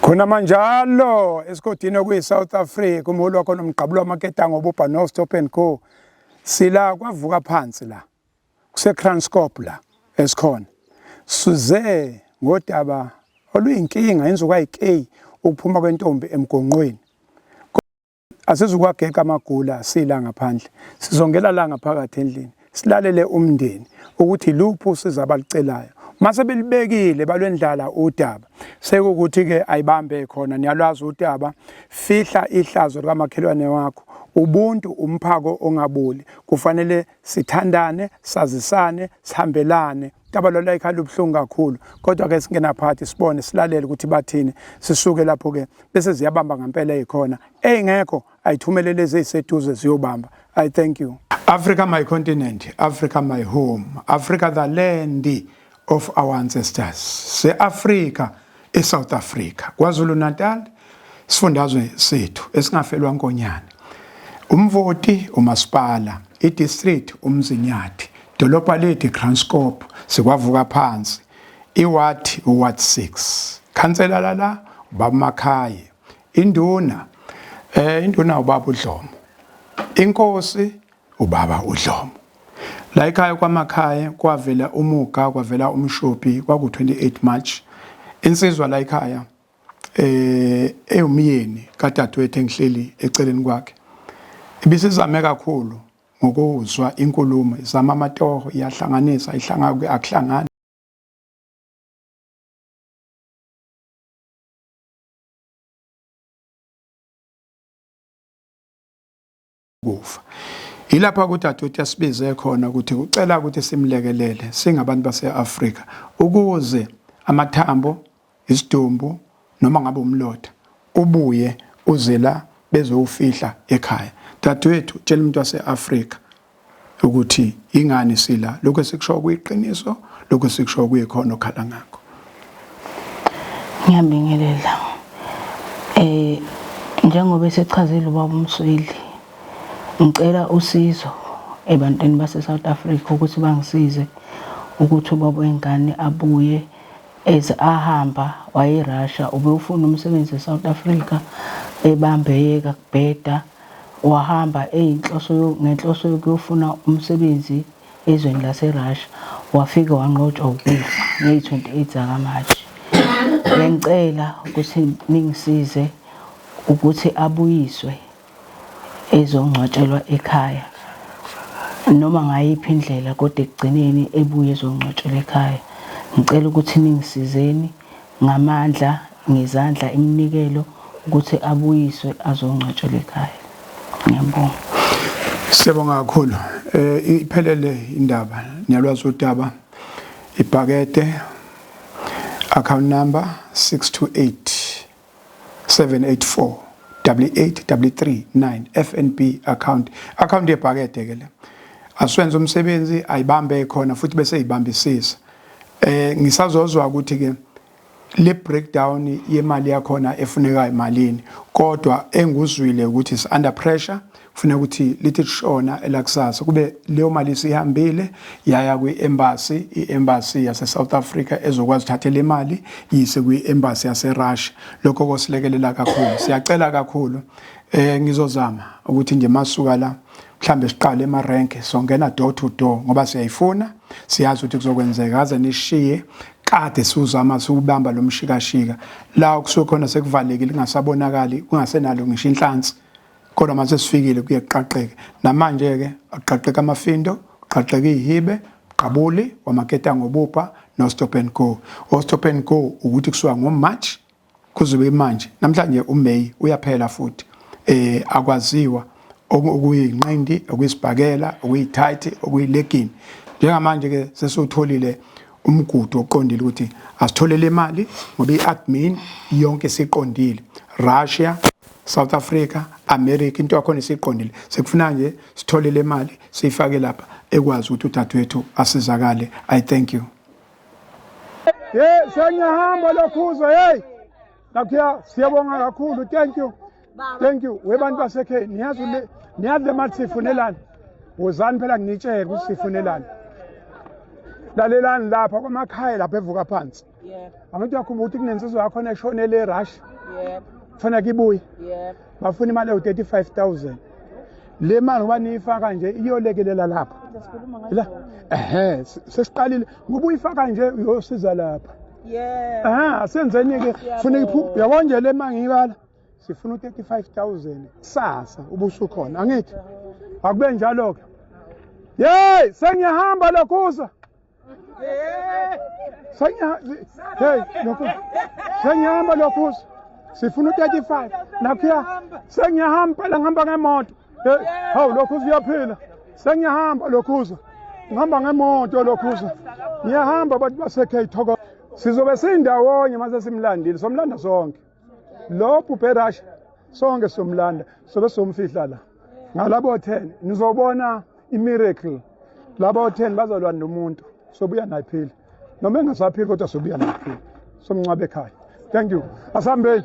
khona manjalo esigodini okuyi-south africa umholi wakhona umgqabulo wamaketango obubha no-stop and go sila kwavuka phansi la kusekranscop la esikhona size ngodaba oluyinkinga inzuka yikeyi ukuphuma kwentombi emgonqweni Asizukwageka amagula sila ngaphandle, sizongela la ngaphakathi endlini, silalele umndeni ukuthi luphi usiza abalicelayo. Mase belibekile balwendlala udaba, sekukuthi-ke ayibambe khona, niyalwazi udaba, fihla ihlazo likamakhelwane wakho. Ubuntu umphako ongaboli, kufanele sithandane sazisane sihambelane tabalala ikhala ubuhlungu kakhulu kodwa ke singena phakathi sibone silalele ukuthi bathini sisuke lapho ke bese ziyabamba ngempela ezikhona eyingekho ayithumele lezi eziseduze ziyobamba i thank you africa my continent africa my home africa the land of our ancestors se-Afrika eSouth Africa KwaZulu Natal isifundazwe sethu esingafelwa nkonyane umvoti umasipala idistrict umzinyathi dolobha lethu Kranskop sikwavuka phansi iward uward 6 khansela lala ubamakhaye induna eh induna ubaba uDlomo inkosi Ubaba uDlomo. La ekhaya kwaMakhaye kwavela uMuga kwavela uMshophi kwaku 28 March. Insizwa la ekhaya eh eyomyeni kadadewethu engihleli eceleni kwakhe. Ibisizame kakhulu ngokuzwa inkulumo izama amatoho iyahlanganisa ihlanga ke akuhlangani. kufa yilapha ukuthi adoti asibize khona ukuthi ucela ukuthi simlekelele singabantu base-afrika ukuze amathambo isidumbu noma ngabe umlotha ubuye uze la bezowufihla ekhaya dadewethu tshela umuntu wase-afrika ukuthi ingani sila lokho esikusho kuyiqiniso lokho sikusho kuyikhona okhala ngakho ngiyabingelela eh njengoba esechazile ubaba umsweli ngicela usizo ebantwini base South Africa ukuthi bangisize ukuthi ubaba wengane abuye as ahamba wayerussia ubewufuna umsebenzi eSouth Africa ebambeyeka kubheda wahamba eyinhloso ngenhloso yokuyofuna umsebenzi ezweni laseRussia, wafike wanqotshwa ukufa ngeyi-28 zakaMashi. Bengicela ukuthi ningisize ukuthi abuyiswe ezongcwatshelwa ekhaya noma ngayiphi indlela kodwa ekugcineni ebuye ezongcwatshelwa ekhaya. Ngicela ukuthi ningisizeni. ngamandla ngezandla iminikelo ukuthi abuyiswe azongcwatshelwa ekhaya ngiyabonga Siyabonga kakhulu eh iphelele indaba niyalwazi udaba ibhakede account number 628 784 88339 FNB account account yebhakede ke le aswenze umsebenzi ayibambe khona futhi bese ibambisisa Eh ngisazozwa ukuthi ke le breakdown yemali yakhona efunekayo malini kodwa enguzwile ukuthi is under pressure kufuneka ukuthi lithi lishona elakusasa kube leyo mali sihambile yaya kwi-embassy i-embassy yase-south africa ezokwazi uthathe le mali yise kwi-embassy yaserussia lokho kosilekelela kakhulu siyacela kakhulu um ngizozama ukuthi nje masuka la mhlambe siqale emarenke songena door to door ngoba siyayifuna siyazi ukuthi kuzokwenzeka aze nishiye kade siwuzama siwubamba lo mshikashika la okusuke khona sekuvalekile kungasabonakali kungasenalo ngisho inhlansi kodwa mase sifikile kuye kuqaqeke namanje-ke aqaqeka amafindo uqaqeka iyihibe uqabuli wamaketa ngobupha no-stop and go o-stop and go ukuthi kusuka ngomarch Kuzobe manje namhlanje uMay uyaphela futhi eh akwaziwa okuyinqindi okuyisibhakela okuyithayithi okuyilegini njengamanje ke sesutholile umgudu oqondile ukuthi asitholele imali ngoba i-admin yonke siqondile Russia South Africa America into yakhona siqondile sekufuna nje sitholele imali siyifake lapha ekwazi ukuthi udadewethu asizakale i thank you Hey, sengiyahamba lokhuzwa hey. Nakhiya siyabonga kakhulu. Thank you. Thank you. Webantu basekhaya niyazi le niyazi le mali sifunelani. Wozani phela nginitshele ukuthi sifunelani. Lalelani lapha kwamakhaya lapha evuka phansi. Yebo. Abantu yakhumbula ukuthi kunensizwa yakho neshonele eRussia. Yebo. Kufanele kibuye. Yebo. bafuna imali ewu-35000 le mali ngoba niyifaka nje iyolekelela lapha la ehe sesiqalile ngoba uyifaka nje uyosiza lapha yeah. asenzeni-ke funa yabona nje le ma ngiyibala sifuna u-35000 kusasa ubusukhona angithi akube njalo-ke yeyi sengiyahamba lokhuza sengihamba lokhuza sifuna u-35 nakhuya sengiyahamba phela ngihamba ngemoto hawu lokhuza uyaphila sengiyahamba lokhuza ngihamba ngemoto lokhuza ngiyahamba abantu base-k thoko sizobe siyindawonye uma sesimlandile somlanda sonke lo bhubhe rush sonke somlanda sobe somfihla la ngalabo 10 nizobona imiracle labo 10 bazalwa nomuntu sobuya naye phila noma engasaphili kodwa sobuya naye phila somncwabe ekhaya thank you asihambeni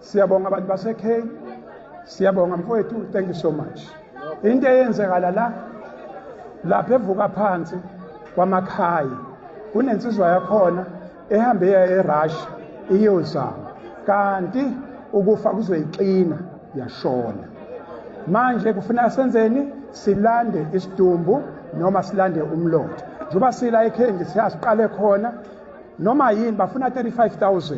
Siyabonga bantu baseKheni. Siyabonga mfowethu, thank you so much. Into eyenzekala la lapha evuka phansi kwamakhayi kunensizwa yakhona ehambe eya eRussia iyozama kanti ukufa kuzoyixina yashona manje kufuneka senzeni silande isidumbu noma silande umlotha njengoba sila ekhengi siyasiqale khona noma yini bafuna 35000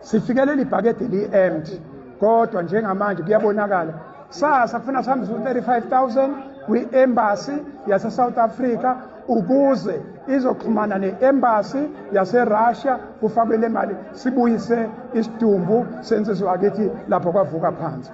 Sifike leli bhakede li-empty kodwa njengamanje kuyabonakala sasa kufuna sihambise u-35000 kwi-embassy yase-south africa ukuze izoxhumana ne-embassy yaserussia kufakwe le mali sibuyise isidumbu sensizwa kithi lapho kwavuka phansi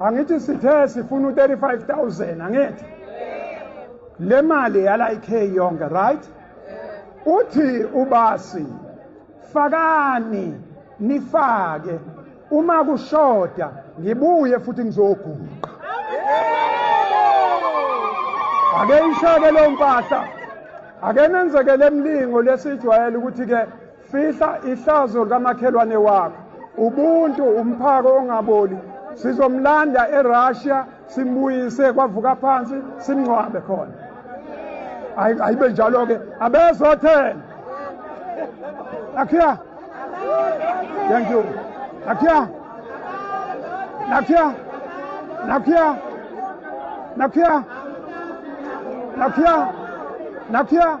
angithi sithe sifuna u-35000 angithi le mali yala ikhe yonke right uthi ubasi fakani nifake uma kushoda ngibuye futhi ngizoguqa ake ishake lo mpahla ake nenzekele emlingo lesijwayele ukuthi-ke Fihla ihlazo likamakhelwane wakho. Ubuntu umphako ongaboli. Sizomlanda eRussia simbuyise kwavuka phansi simngcwabe khona. Ayibe njalo ke abezothela. Akhiya. Thank you. Akhiya. Nakhiya. Nakhiya. Nakhiya. Nakhiya. Nakhiya.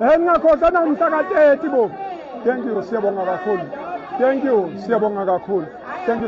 Eh ngiyakhohlwa namhla ka-30 bo. Thank you siyabonga kakhulu. Thank you siyabonga kakhulu. Thank you.